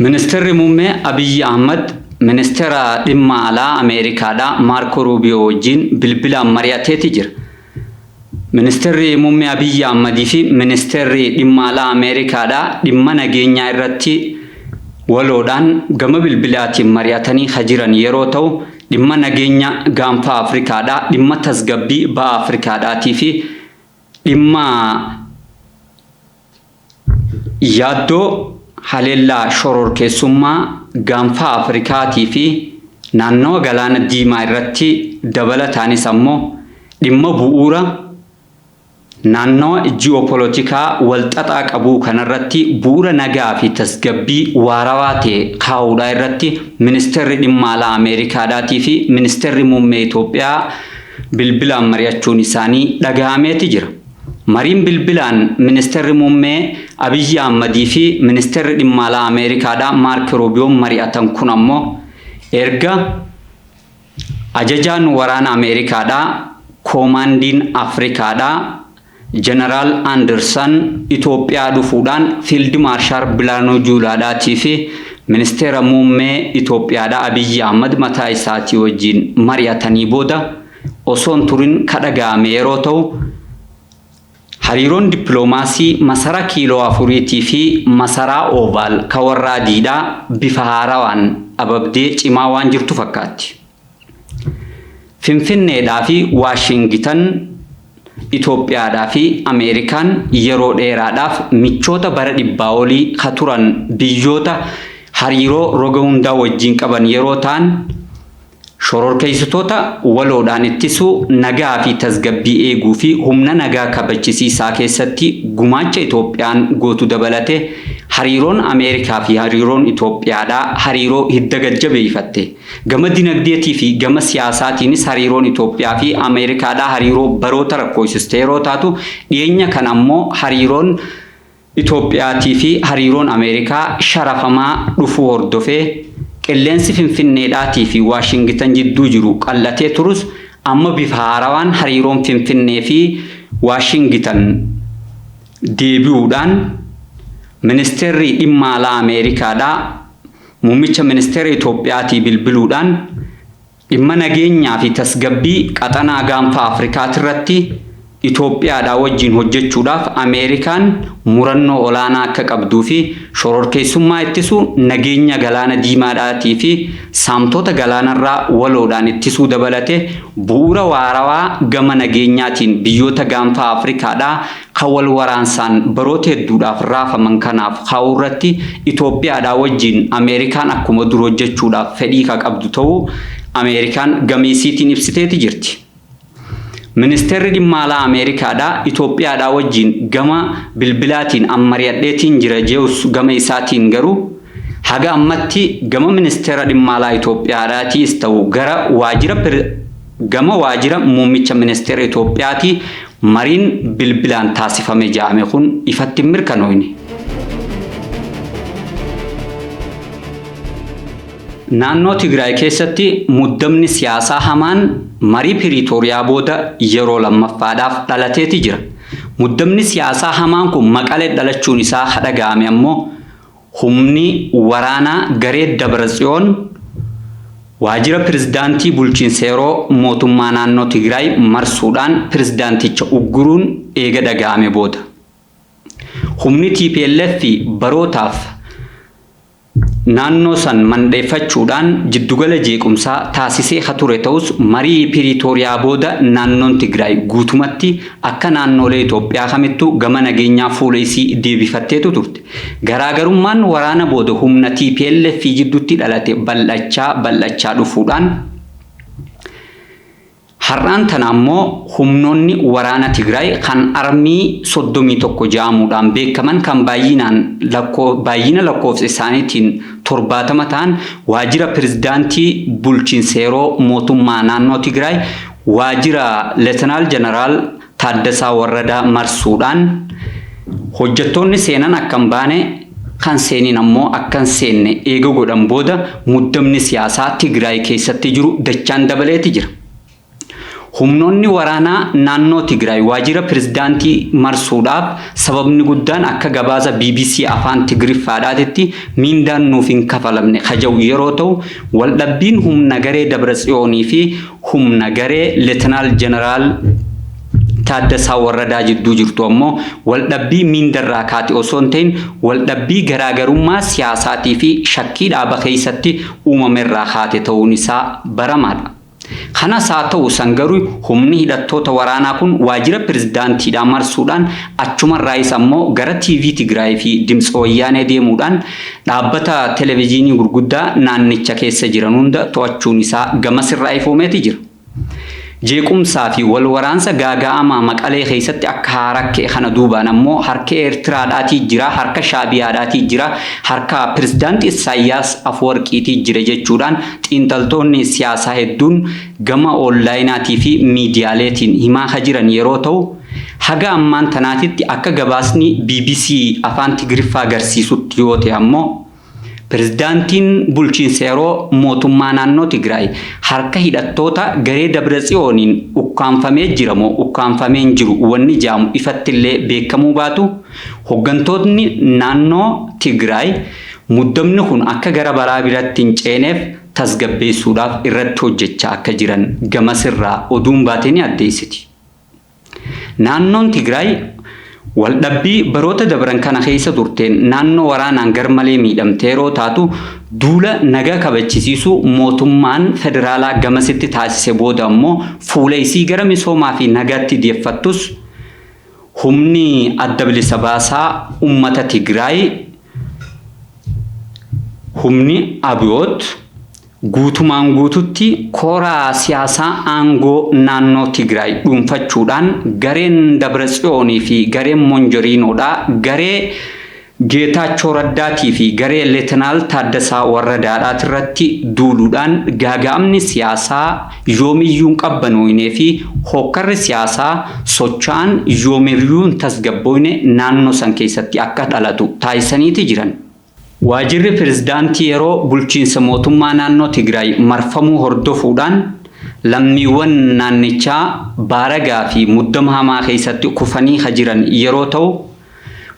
Ministeerri Muummee Abiyyi Ahmad Ministeera Dhimma Alaa Ameerikaadhaa Maarkoo Ruubiyoo wajjin bilbilaan mari'ateeti jira. Ministirri Muummee Abiyyi Ahmad fi Ministeerri Dhimma Alaa Ameerikaadhaa dhimma nageenyaa irratti waloodhaan gama bilbilaatiin mari'atanii ka jiran yeroo ta'u, dhimma nageenya Gaanfa Afrikaadhaa, dhimma tasgabbii Baha Afrikaadhaatii fi dhimma. Yaaddoo haleellaa shororkeessummaa Gaanfa Afrikaatii fi naannawa Galaana Diimaa irratti dabalataanis ammoo dhimma bu'uura naannawa ji'oopolotikaa walxaxaa qabuu kanarratti bu'uura nagaa fi tasgabbii waarawaa ta'e kaa'uudhaa irratti Ministeerri Dhimma Alaa Ameerikaadhaatii fi Ministeerri Muummee Itoophiyaa bilbilaan mari'achuun isaanii dhagahameeti jira. Mariin bilbilaan Ministeerri Muummee Abiyyi Ahmadii fi Ministeerri Dhimma Alaa Ameerikaadhaa Maark Ruubiyoon mari'atan kun ammoo erga Ajajaan Waraana Ameerikaadhaa Koomaandiin Afrikaadhaa Janaraal Andirsan Itoophiyaa dhufuudhaan Fiild Maarshaal Bilaanuu Juulaadhaatii fi Ministeera Muummee Itoophiyaadhaa Abiyyi Ahmad mataa isaatii wajjiin mari'atanii booda osoo hin turin ka dhaga'ame yeroo ta'u, hariiroon dippiloomaasii Masaraa Kiiloo Afuriitii fi Masaraa Oovaal ka warra adiidhaa bifa haarawaan ababdee cimaa waan jirtu fakkaatti. Finfinneedhaa fi Waashingitan, Itoophiyaadhaa fi Ameerikaan yeroo dheeraadhaaf michoota bara dhibbaa olii ka turan biyyoota hariiroo roga hundaa wajjin qaban yeroo ta'an, Shororkeessitoota waloodhaan ittisuu, nagaa fi tasgabbii eeguu fi humna nagaa kabachisiisaa keessatti gumaacha Itoophiyaan gootu dabalatee hariiroon Ameerikaa fi hariiroon Itoophiyaadhaa hariiroo hidda gad jabeeyfatte. Gama dinagdeetii fi gama siyaasaatiinis hariiroon Itoophiyaa fi Ameerikaadhaa hariiroo baroota rakkooysisteeroo taatu dhiyeenya kana ammoo hariiroon Itoophiyaatiifi hariiroon Ameerikaa sharafamaa dhufuu hordofee qilleensi Finfinneedhaatiifi Waashingitan jidduu jiru qal'atee turus amma bifa haarawaan hariiroon Finfinneefi Waashingitan deebi'uudhaan Ministeerri Dhimma Alaa Ameerikaadhaa Muummicha Ministeera Itoophiyaatii bilbiluudhaan Dhimma nageenyaa fi tasgabbii qaxanaa Gaanfa Afrikaatirratti Itoophiyaadhaa wajjin hojjechuudhaaf Ameerikaan murannoo olaanaa akka qabduu fi shororkeessummaa ittisuu, nageenya Galaana Diimaadhaatii fi saamtota galaanarraa waloodhaan ittisuu dabalatee bu'uura waarawaa gama nageenyaatiin biyyoota Gaanfa Afrikaadhaa Kan wal waraansaan baroota hedduudhaaf raafaman kanaaf kaa'uu irratti Itoophiyaadhaa wajjin Ameerikaan akkuma dur hojjechuudhaaf fedhii ka qabdu ta'uu Ameerikaan gama isiitiin ibsiteeti jirti. Ministeerri Dhimma Alaa Ameerikaadhaa Itoophiyaadhaa wajjin gama bilbilaatiin an mari'adheetiin jira jeus gama isaatiin garuu haga ammatti gama Ministeera Dhimma Alaa Itoophiyaadhaatiis ta'u gara waajjira Gama waajira muummicha ministeera Itoophiyaati mariin bilbilaan taasifame ja'ame kun ifatti hin mirkanooyne. Naannoo Tigraay keessatti muddamni siyaasaa hamaan marii Piriitooriyaa booda yeroo lammaffaadhaaf dhalateeti jira. Muddamni siyaasaa hamaan kun Maqalee dhalachuun isaa ha dhaga'ame ammoo, Humni waraanaa garee Dabratsiyoon waajira pirezidaantii bulchiinsa yeroo mootummaa naannoo Tigraay marsuudhaan pirezidaanticha ugguruun eega dhaga'ame booda. Humni tplf barootaaf naannoo san mandheeffachuudhaan jiddugala jeequmsaa taasisee ka ture ta'us marii Piriitooriyaa booda naannoon Tigraay guutumatti akka naannoolee Itoophiyaa kamittuu gama nageenyaa fuula isii deebifatteetu turte. Garaagarummaan waraana booda humna tplf jidduutti dhalate bal'achaa bal'achaa dhufuudhaan har'aan tana ammoo humnoonni waraana Tigraay kan Armii 31 ja'amuudhaan beekaman kan baay'inaan baay'ina lakkoofsa isaaniitiin 70 ta'an waajjira pirezidaantii bulchiinsa yeroo mootummaa naannoo Tigraay waajjira Letanaal Jeneraal Taaddasaa Warradaa marsuudhaan hojjettoonni seenan akka hin baane, kan seeniin ammoo akka hin seenne eega godhan booda muddamni siyaasaa Tigraay keessatti jiru dachaan dabaleeti jira. Humnoonni waraanaa naannoo Tigraay waajira pirezidaantii marsuudhaaf sababni guddaan akka gabaasa bbc Afaan Tigriffaadhaatitti miindaan nuuf hin kafalamne ka ja'u yeroo ta'u, waldhabbiin humna garee Dabratsiyoonii fi humna garee Letinaal Jeneraal Taaddasaa Warradaa jidduu jirtu ammoo waldhabbii miindarraa kaate osoo hin ta'in waldhabbii garaagarummaa siyaasaatii fi shakkii dhaaba keessatti uumamerraa kaate ta'uun isaa baramaadha. Kanas haa ta'u san garuu humni hidhattoota waraanaa kun waajjira pirezidaantiidhaa marsuudhaan achumarraayis ammoo gara TV Tigraay fi Dimtsi Wayyaanee deemuudhaan Dhaabbata televijiinii gurguddaa naannicha keessa jiran hunda to'achuun isaa gamas irraa ifoomeeti jira. Jeequmsaa fi wal waraansa gaaga'amaa Maqalee keessatti akka haaraa ka'e kana duubaan ammoo harka Eertiraadhaatii jira, harka Shaabiyaadhaatii jira, harka Pirezidaant Issaayyaas Afwarqiitii jira jechuudhaan xiinxaltoonni siyaasaa hedduun gama oonlaayinaatii fi miidiyaaleetiin himaa ka jiran yeroo ta'u, Haga ammaan tanaatitti akka gabaasni bbc Afaan Tigiriffaa garsiisutti yoo ta'e ammoo, Pirezidaantiin Bulchiinsa Yeroo Mootummaa Naannoo Tigraay harka hidhattoota garee Dabratsiyooniin ukkaamfamee jira moo ukkaamfamee hin jiru wanni ja'amu ifattillee beekkamuu baatu, hoggantootni naannoo Tigraay muddamni kun akka gara balaa biratti hin ceeneef tasgabbeessuudhaaf irratti hojjachaa akka jiran gamasirraa oduun baate ni addeessiti. Naannoon Tigraay waldhabbii baroota dabran kana keessa turteen naannoo waraanaan garmalee miidhamte yeroo taatu, duula nagaa kabachisiisuu mootummaan federaalaa gamasitti taasise booda ammoo fuula isii gara misoomaa fi nagaatti deeffattus humni Adda Bilisa Baasaa Ummata Tigraay, humni Abiyoot, Guutumaan guututti kora siyaasaa aangoo naannoo Tigraay dhuunfachuudhaan gareen Dabratsiyoon fi gareen Monjoriinoodhaa garee Geetaachoo Raddaatii fi garee Letenaal Taaddasaa Warradaatirratti duuluudhaan gaaga'amni siyaasaa yoomiyyuu hin qabbanooynee fi hookkarri siyaasaa socha'an yoomiryuu hin tasgabbooyne naannoo san keessatti akka dhalatu taasisaniiti jiran. Waajirri Pirezidaantii Yeroo Bulchiinsa Mootummaa Naannoo Tigraay marfamuu hordofuudhaan lammiiwwan naannichaa baaragaa fi muddama hamaa keessatti kufanii ka jiran yeroo ta'u,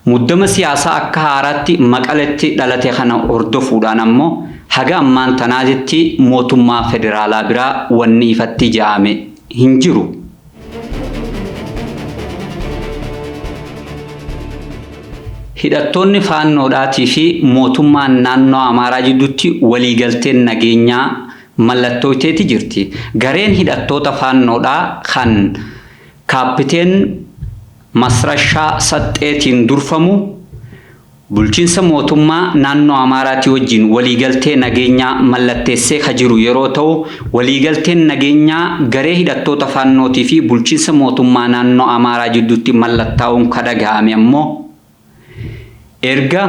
muddama siyaasaa akka haaraatti Maqaletti dhalate kana hordofuudhaan ammoo haga ammaan tanaatitti mootummaa federaalaa biraa wanni ifatti ja'ame hin jiru. Hidhattoonni Faannoodhaatii fi mootummaan naannoo Amaaraa jidduutti waliigalteen nageenyaa mallattooyteeti jirti. Gareen hidhattoota Faannoodhaa kan Kaappiteen Masrashaa Saxxeetiin durfamu, Bulchiinsa mootummaa naannoo Amaaraatii wajjin waliigaltee nageenyaa mallatteessee ka jiru yeroo ta'u, waliigalteen nageenyaa garee hidhattoota Faannootii fi bulchiinsa mootummaa naannoo Amaaraa jidduutti mallattaa'uun ka dhagahame ammoo erga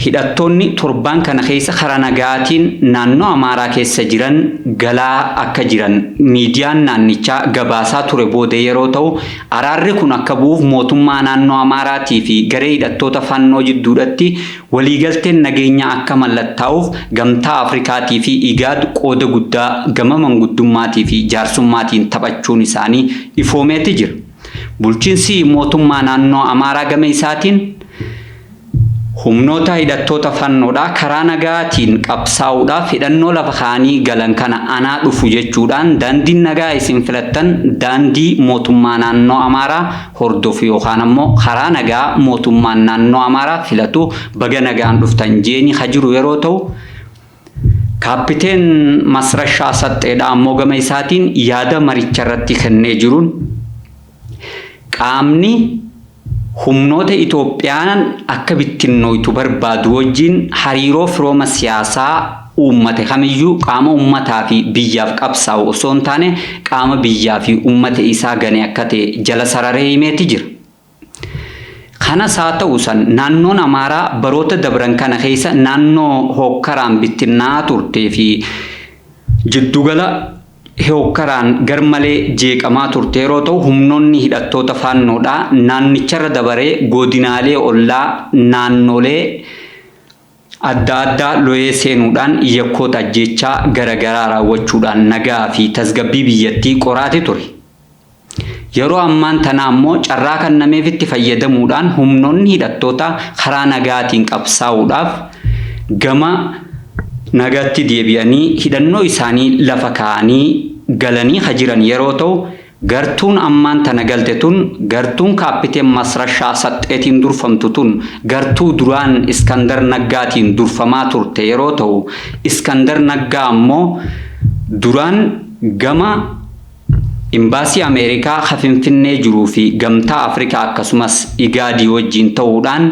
hidhattoonni torbaan kana keessa karaa nagayaatiin naannoo Amaaraa keessa jiran galaa akka jiran miidiyaan naannichaa gabaasaa ture booda yeroo ta'u, Araarri kun akka bu'uuf mootummaa naannoo Amaaraatii fi garee hidhattoota Fannoo jidduudhatti waliigalteen nageenyaa akka mallattaa'uuf Gamtaa Afrikaatii fi Igaad qooda guddaa gama manguddummaatii fi jaarsummaatiin taphachuun isaanii ifoomeeti jira. Bulchinsi mootummaa naannoo Amaaraa gama isaatiin, Humnoota hidhattoota fannoodhaa karaa nagaatiin qabsaa'uudhaaf hidhannoo lafa kaa'anii galan kana anaa dhufu jechuudhaan daandiin nagaa isin filattan daandii mootummaa naannoo Amaaraa hordofu yookaan ammoo karaa nagaa mootummaan naannoo Amaaraa filatu baga nagaan dhuftan jeeni ka jiru yeroo ta'u, Kaappiteen Masrashaa Saxxeedhaa ammoo gama isaatiin yaada maricharratti kennee jiruun qaamni humnoota Itoophiyaan akka bittinnooytu barbaadu wajjin hariiroo firooma siyaasaa uummate kamiyyuu qaama uummataa fi biyyaaf qabsaa'u osoo hin taane qaama biyyaa fi uummata isaa gane akka ta'e jala sararee himeeti jira. Kanas haa ta'u san naannoon Amaaraa baroota dabran kana keessa naannoo hookkaraan bittinnaa'aa turtee fi jiddugala hookkaraan garmalee jeeqamaa turte yeroo ta'u humnoonni hidhattoota Faannoodhaa naannicharra dabaree goodinaalee ollaa naannoolee adda addaa loyee seenuudhaan yakkoota ajjeechaa gara garaa raawwachuudhaan nagaa fi tasgabbii biyyattii qoraate ture. Yeroo ammaan tanaa ammoo carraa kannameefitti fayyadamuudhaan humnoonni hidhattootaa karaa nagaatiin qabsaa'uudhaaf gama nagaatti deebi'anii hidhannoo isaanii lafa kaa'anii galanii ka jiran yeroo ta'u, gartuun ammaan tana galte tun gartuun Kaappiteen Masrashaa Saxxeetiin durfamtu tun gartuu duraan Iskandar Naggaatiin durfamaa turte yeroo ta'u, Iskandar Naggaa ammoo duraan gama. Imbaasii Ameerikaa ka Finfinnee jiruu fi Gamtaa Afrikaa akkasumas IGAD wajjiin ta'uudhaan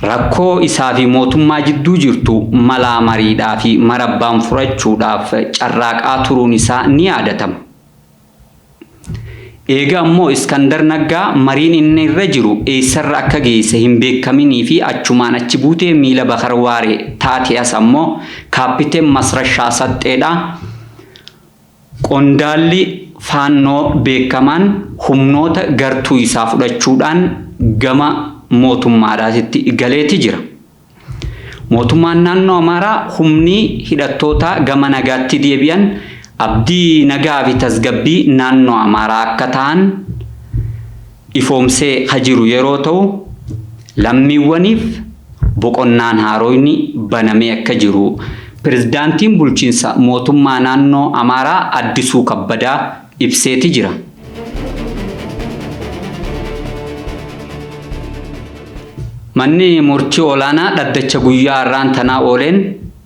rakkoo isaa fi mootummaa jidduu jirtu malaa mariidhaa fi marabbaan furachuudhaaf carraaqaa turuun isaa ni yaadatama. Eega ammoo Iskandar Naggaa mariin inni irra jiru eessarra akka geesse hin beekkaminii fi achumaan achi buutee miila Bakar Waaree taatee as ammoo Kaapiteen Masrashaa Saxxeedhaa Qondaalli Faannoo beekamaan humnoota gartuu isaa fudhachuudhaan gama mootummaadhaatitti galeeti jira. Mootummaan naannoo Amaaraa humni hidhattootaa gama nagaatti deebi'an abdii nagaa fi tasgabbii naannoo Amaaraa akka ta'an, ifoomsee ka jiru yeroo ta'u, lammiiwwaniif boqonnaan haaroyni banamee akka jiru Pirezidaantiin Bulchiinsa Mootummaa Naannoo Amaaraa Addisuu Kabbadaa ibseeti jira. Manni Murtii Olaanaa dhaddacha guyyaa har'aan tanaa ooleen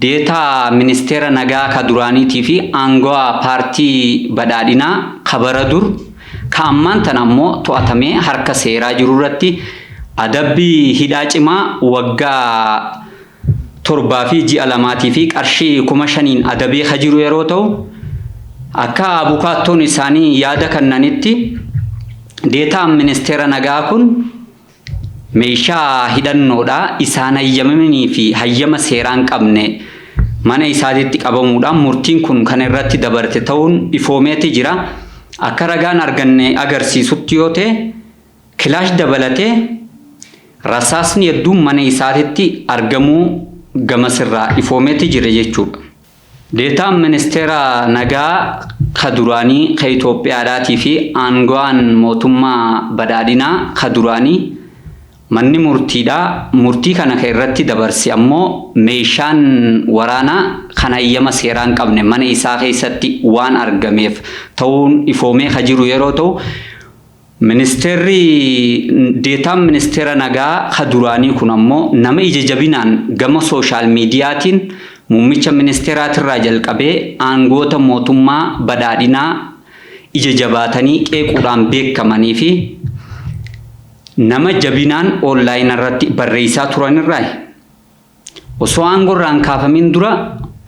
Deetaa Ministeera Nagaa ka duraaniitii fi aangawaa Paartii Badhaadhinaa ka bara dur Ka ammaan tana ammoo to'atamee harka seeraa jiru irratti adabbii hidhaa cimaa waggaa torbaa fi ji'a lamaatii fi qarshii kuma shaniin adabee ka jiru yeroo ta'u, akka abukaattoon isaanii yaada kannanitti, deetaan ministeera nagaa kun, meeshaa hidhannoodhaa isaan hayyamamanii fi hayyama seeraa hin qabne mana isaatitti qabamuudhaan murtiin kun kan irratti dabarte ta'uun ifoomeeti jira. Akka ragaan arganne agarsiisutti yoo ta'e kilaash dabalatee rasaasni hedduun mana isaatitti argamuu gamas irraa ifoomeeti jira jechuudha. Deetaan Ministeera Nagaa ka duraanii ka Itoophiyaadhaatii fi aangawaan mootummaa badhaadhinaa ka duraanii manni murtiidhaa murtii kana ka irratti dabarse ammoo meeshaan waraanaa kan hayyama seeraa hin qabne mana isaa keessatti waan argameef ta'uun ifoomee ka jiru yeroo ta'u, Ministeerri deetaan ministeera nagaa ka duraanii kun ammoo nama ija jabinaan gama sooshaal miidiyaatiin muummicha ministeeraatirraa jalqabee aangoota mootummaa badhaadhinaa ija jabaatanii qeequudhaan beekamaniifi nama jabinaan oonlaayinarratti barreessaa turanirraayi. Osoo aangoo irraa hin kaafamiin dura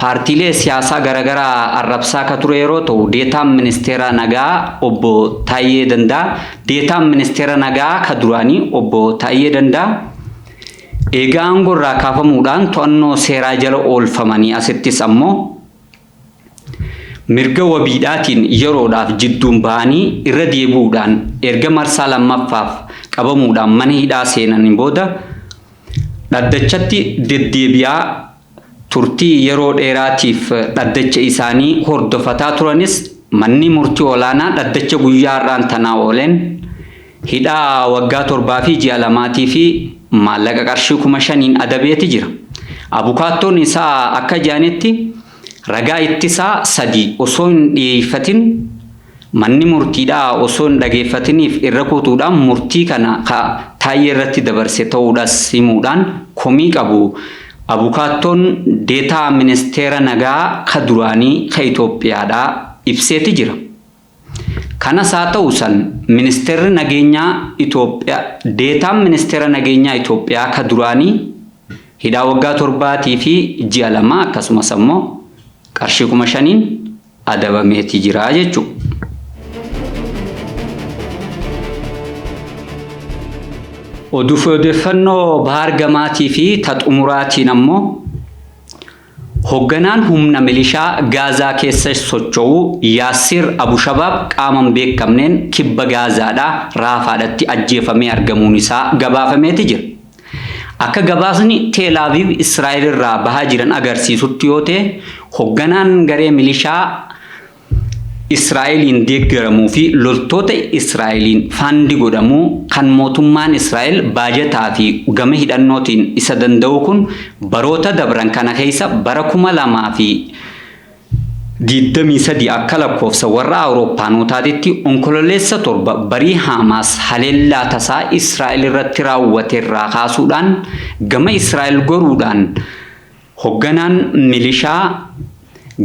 paartiilee siyaasaa garagaraa arrabsaa ka ture yeroo ta'u, Deetaan Ministeera Nagaa Obbo Taayyee Dandaa, Deetaan Ministeera Nagaa ka duraanii Obbo Taayyee Dandaa eega aangoo irraa kaafamuudhaan to'annoo seeraa jala oolfamanii asittis ammoo, Mirga wabiidhaatiin yeroodhaaf jidduun bahanii irra deebi'uudhaan erga marsaa lammaffaaf qabamuudhaan mana hidhaa seenanii booda dhaddachatti deddeebi'aa turtii yeroo dheeraatiif dhaddacha isaanii hordofataa turanis manni murtii olaanaa dhaddacha guyyaa har'aan tanaa ooleen Hidhaa waggaa torbaa fi ji'a lamaatii fi maallaqa qarshii kuma shaniin adabeeti jira. Abukaattoon isaa akka jedhanitti ragaa ittisaa sadii osoo hin dhiyeeffatin manni murtiidhaa osoo hin dhageeffatiniif irra kutuudhaan murtii kana ka Taayyee irratti dabarse ta'uudhas himuudhaan komii qabu Abukaattoon Deetaa Ministeera Nagaa ka duraanii ka Itoophiyaadhaa ibseeti jira. Kanas haa ta'u san Ministeerri Nageenyaa Itoophiyaa Deetaan Ministeera Nageenyaa Itoophiyaa ka duraanii hidhaa waggaa torbaatii fi ji'a lamaa akkasumas ammoo qarshii kuma shaniin adabameeti jira jechuudha. Oduufi odeeffannoo Bahaar Gamaatii fi ta xumuraatiin ammoo, Hogganaan humna milishaa Gaazaa keessa socho'u Yaassir Abu Shabaab qaama hin beekamneen kibba Gaazaadhaa Raafaadhatti ajjeefamee argamuun isaa gabaafameeti jira. Akka gabaasni Teel Aviiv Israa'el irraa bahaa jiran agarsiisutti yoo ta'e, hogganaan garee milishaa, Israa'eliin deeggaramuu fi loltoota Israa'eliin faandi godhamu kan mootummaan Israa'el baajataa fi gama hidhannootiin isa danda'uu kun baroota dabran kana keessa bara 2023 akka lakkoofsa warra Awurooppaanootaatitti Onkololeessa 7 barii Haamaas haleellaa tasaa Israa'el irratti raawwate irraa kaasuudhaan gama Israa'el goruudhaan Hogganaan milishaa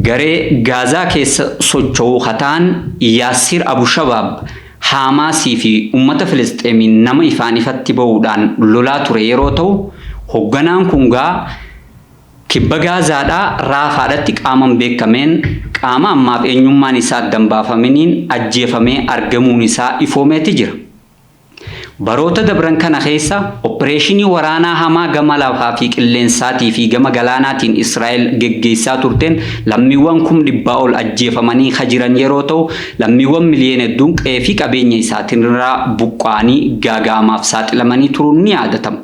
garee Gaazaa keessa socho'uu ka ta'an Yaassir Abu Shabaab Haamaasii fi ummata Filisxeemiin nama ifaan ifatti ba'uudhaan lolaa ture yeroo ta'u, hogganaan kun gaa Kibba Gaazaadhaa Raafaadhatti qaama hin beekameen, qaama ammaaf eenyummaan isaa adda hin baafaminiin ajjeefamee argamuun isaa ifoomeeti jira. Baroota dabran kana keessa oppireeshinii waraanaa hamaa gama lafaa fi qilleensaatii fi gama galaanaatiin Israa'el geggeessaa turteen lammiiwwan kum dhibbaa ol ajjeefamanii ka jiran yeroo ta'u, lammiiwwan miliyoona hedduun qe'ee fi qabeenya isaatinraa buqqa'anii gaaga'amaaf saaxilamanii turuun ni yaadatama.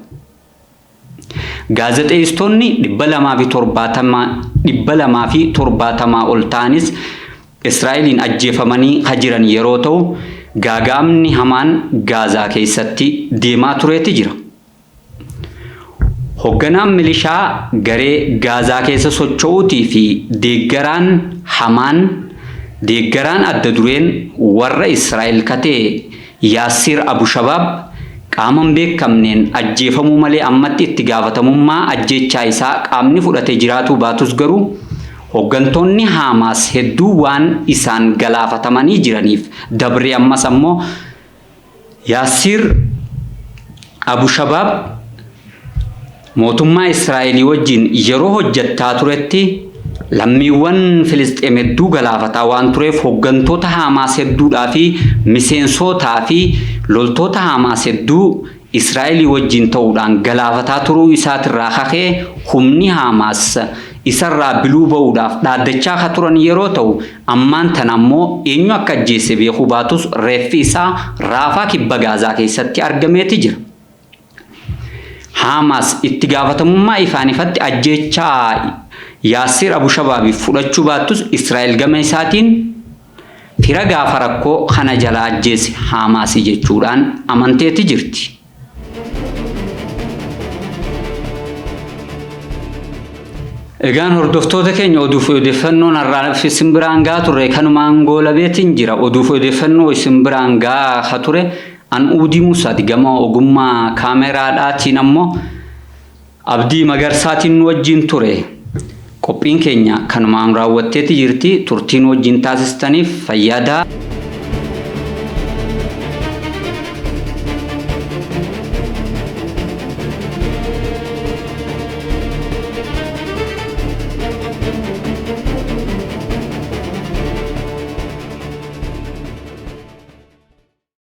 Gaazexeessitoonni 270 270 ol ta'anis Israa'eliin ajjeefamanii ka jiran yeroo ta'u, gaaga'amni hamaan Gaazaa keessatti deemaa tureeti jira. Hogganaan milishaa garee Gaazaa keessa socho'uutii fi deeggaraan hamaan, deeggaraan adda dureen warra Israa'el ka ta'e, Yaassir Abushabaab qaama hin beekamneen ajjeefamuu malee ammatti itti gaafatamummaa ajjeechaa isaa qaamni fudhate jiraatuu baatus garuu hoggantoonni Haamaas hedduu waan isaan galaafatamanii jiraniif dabree ammas ammoo Yaassir Abushabaab Mootummaa Israa'elii wajjin yeroo hojjettaa turetti lammiiwwan Filisxeem hedduu galaafataa waan tureef hoggantoota Haamaas hedduudhaa fi miseensootaa fi loltoota Haamaas hedduu Israa'elii wajjin ta'uudhaan galaafataa turuu isaatirraa kakee humni Haamaas isarraa biluu ba'uudhaaf dhaaddachaa ka turan yeroo ta'u ammaan tana ammoo eenyu akka ajjeesse beekuu baatus reeffi isaa Raafaa kibba Gaazaa keessatti argameeti jira. Haamaas itti gaafatamummaa ifaan ifatti ajjeechaa Yaassir Abu Shabaabiif fudhachuu baattus Israa'el gama isaatiin fira gaafa rakkoo kana jalaa ajjeese Haamaasi jechuudhaan amanteeti jirti. Egaan hordoftoota keenya oduu fi odeeffannoon har'aaf isin biraan gahaa turre kanumaan goolabeetiin jira. Oduu fi odeeffannoo isin biraan gahaa ture An Uudii Musaati gama ogummaa kaameraadhaatiin ammoo Abdii Magarsaatiin nu wajjiin ture. Qophiin keenya kanumaan raawwatteeti jirti. Turtii nu wajjiin taasistaniif fayyaadaa.